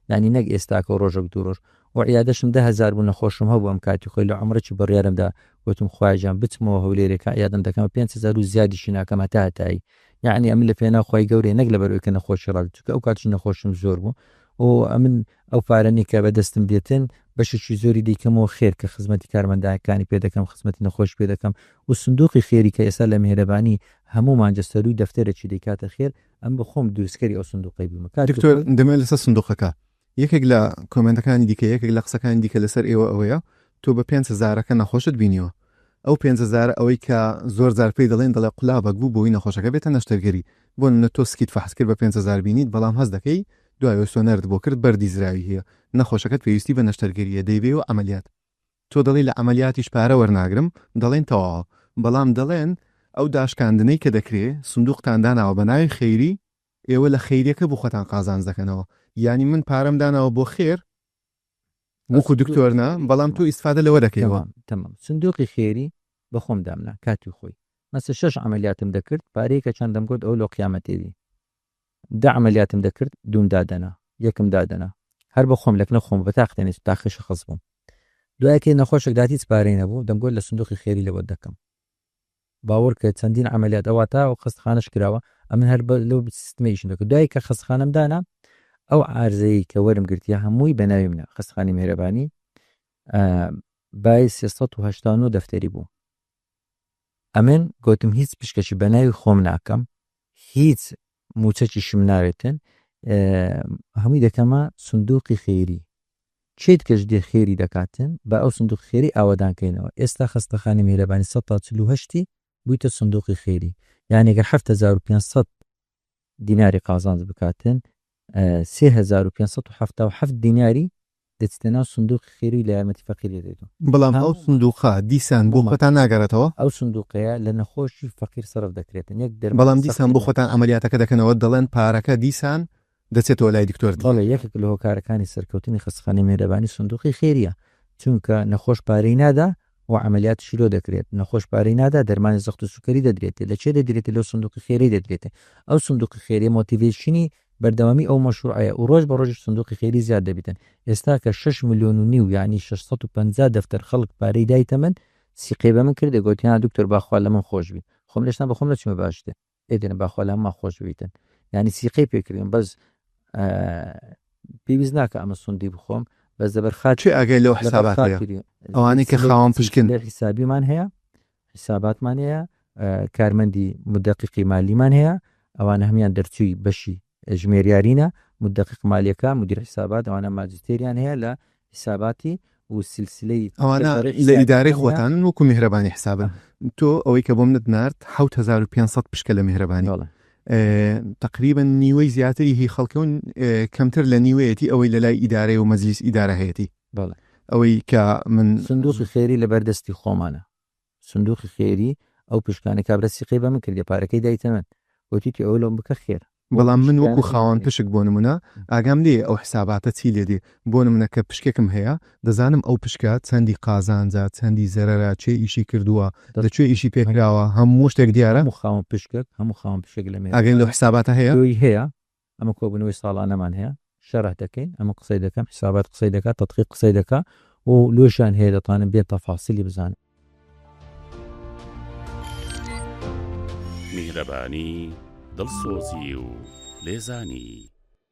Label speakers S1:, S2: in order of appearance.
S1: یانی نەک ئێستاکە و ڕۆژەک دوو ڕۆژ و عیادەشم دە هەزار بوو نەخۆشم هەبوو ئەم کاتی خۆی لە عەمرەکی بڕیارم دا گۆتم خوایە گیان بچمەوە هەولێرێ کە عیادەم دەکەمە پێنج هەزار و زیادیشی ناکەم هەتا هەتایی یانی ئەمن لە پێناو خوای گەورەیە نەک لەبەر ئەوی کە نەخۆشی ڕادەت چونکە ئەو کاتیش نەخۆشیم زۆر بوو و ئەمن ئەو پارەنی کە بەدەستم دێتن بەشێکی زۆری دەیکەمەوە خێر کە خزمەتی کارمەندایەکانی پێ دەکەم خزمەتی نەخۆش پێ دەکەم و سندوقی خێری کە ئێستا لە میهرەبانی هەموو مانجە سەرووی دەفتەرێکی دەیکاتە خێر ئەم بە خۆم دروستکەری ئەو سندوقەی بوومە کاک دکتۆر دکتۆر دەمێ لەسەر
S2: سندوقەکە یەکێک لە کۆمێنتەکانی دیکە یەکێک لە قسەکانی دیکە لەسەر ئێوە ئەوەیە تۆ بە پێنج هەزارەکە نەخۆشت بینیوە ئەو پێنج هەزارە ئەوەی کە زۆر زار پێی دەڵێن دەڵێ قولابەک بوو بۆی نەخۆشەکە بێتە نەشتەرگەری بۆ نمونە تۆ سکیت فەحس کرد بە پێنج هەزار بینیت بەڵام هەست دەکەی دوای ئەوەی سۆنەرت بۆ کرد بەردی زراوی هەیە نەخۆشەکەت پێویستی بە نەشتەرگەریە دەیبێ و عەمەلیات تۆ دەڵێی لە عەمەلیاتیش پارە وەرناگرم، دەڵێن تەواوە، بەڵام دەڵێن ئەو داشکاندنەی کە دەکرێ سندوقتان داناوە بە ناوی خەیری، ئێوە لە خەیریەکە بۆ خۆتان قازانج دەکەنەوە، یانی من پارەم داناوە بۆ خێر وەکو دکتۆر نا، بەڵام تۆ ئیستفادە لەوە دەکەیەوە. تەمام، سندوقی
S1: خێری بە خۆم دامنا کاتی خۆی، مەسە شەش عەمەلیاتم دەکرد، پارەیەکە چەند دەمگۆت ئەوە لۆ قیامەتێ بی. دە عەمەلیاتم دەکرد دووم دادەنا یەکم دادەنا هەر بە خۆم لەکنە خۆم بە تاق تەنێ تاقی شەخس بووم دوای کەی نەخۆشێک دات هیچ پارەی نەبوو دەمگۆت لە سندوقی خێری لەوە دەکەم باوەڕ کە چەندین عملیات ئەوە تا و خستخانش کراوە ئەمن هەر لەو سیستمی ئیشم دەکرد دوای کە خستخانم دانا ئەو عرزەیە کە وەرم گرتیە هەمووی بەناوی منە خستخانی مێرەبانی بای 389 دەفتەری بوو ئەمن گۆتم هیچ پشکەکی بەناوی خۆم ناکەم هیچ موچەکیشم ناوێتن هەمووی دەکەمە سندوقی خێری چێت کەش دێ خێری دەکاتن بە ئەو سندوق خێری ئاوادانکەینەوە ئێستا خستەخانی میرەبانی 1940 بوویتە سندوقی خێری یانێگە 1500 دیناری قازانج بکاتن سێ هەزار و پێنج سەد و حەفتا و حەفت دیناری دەچتە ناو سندوقی خێروی لە یارمەتی فەقیری دەیتن. بەڵام ئەو سندوقە
S2: دیسان بۆ خۆتان ناگەڕێتەوە؟ ئەو سندوقەیە
S1: لە نەخۆشی فەقیر سەرف دەکرێتن یەک دەرمان بەڵام دیسان بۆ خۆتان
S2: عەمەلیاتەکە دەکەنەوە دەڵێن پارەکە دیسان دەچێتەوە لای دکتۆر دی. بەڵێ یەکێک لە هۆکارەکانی
S1: سەرکەوتنی خەستەخانەی مێهرەبانی سندوقی خێریە چونکە نەخۆش پارەی نادا و عەمەلیاتیشی لۆ دەکرێت، نەخۆش پارەی نادا دەرمانی زەخت و سوکەری دەدرێتێ، لە کێ دەدرێتێ لەو سندوقی خێرەی دەدرێتێ، ئەو سندوقی خێرەیە مۆتیڤەیشنی بەردەوامی ئەو مەشروعەیە و رۆژ بە رۆژیش سندوقی خێری زیاد دەبیتن، ئێستا کە شەش ملیۆن و نیو یەعنی شەش سەد و پەنجا دەفتەر خەڵک پارەی دایتە من، سیقەی بە من کردێ گۆتی ها دکتۆر با خوا لە من خۆش بی خۆم لەشتان بە خۆم نەچومە باشتر. ئێدن با خوا لە هەمووان خۆش بیتن یانی سیقەی پێ کردین بەس پێویست ناکە ئەمە سوندی بخۆم بەس لەبەر خات کێ ئاگای لەو حسابات
S2: هەیە؟ خاتری ئەوانەی کە خاوەن پشکن لێ حیسابیمان هەیە
S1: حیساباتمان هەیە کارمەندی مدەقیقی مالیمان هەیە ئەوانە هەموان دەرچووی بەشی ژمێریارینە، مدقق مالیەکە، مدیر حسابات، ئەوانە ماجستێریان هەیە لە حساباتی و سلسلەی. ئەوانە لە
S2: ئیدارەی خۆتانن وەکو میهرەبانی حسابن تۆ ئەوەی کە بۆمنت نارد حەوت هەزار و پێنج سەد پشکە لە میهرەبانی تقریبا نیوەی زیاتری هی خەڵکەون کەمتر لە نیوەیەتی ئەوەی لە لای ئیدارەی و مەزلیس ئیدارە هەیەتی ئەوەی کە من سندوقی خێری لە
S1: بەردەستی خۆمانە سندوقی خێری ئەو پشکانە کابرا سیقەی بە من کردیە پارەکەی دایتە من وتیتی ئەوە لۆم بکە خێر. بەڵام من وەکو
S2: خاوەن پشک بۆ نمونە ئاگام لێیە ئەو حساباتە چی لێ دێ بۆ نمونە کە پشکێکم هەیە دەزانم ئەو پشکە چەندی قازانجە چەندی زەرەرە کێ ئیشی کردوە لە کوێ ئیشی پێ کراوە هەموو شتێک دیارە. هەموو خاوەن پشکەک هەموو
S1: خاوەن پشکێک لە مێژە ئاگای لەو حساباتە هەیە.
S2: تۆی هەیە
S1: ئەمە کۆبوونەوەی ساڵانەمان هەیە شەرح دەکەین ئەمن قسەی دەکەم حیسابات قسەی دەکات تەدقیق قسەی دەکا و لۆشیان هەیە دەتوانن بێن تەفاسیلی بزانن.
S3: میهرەبانی، دڵسۆزی و لێزانی.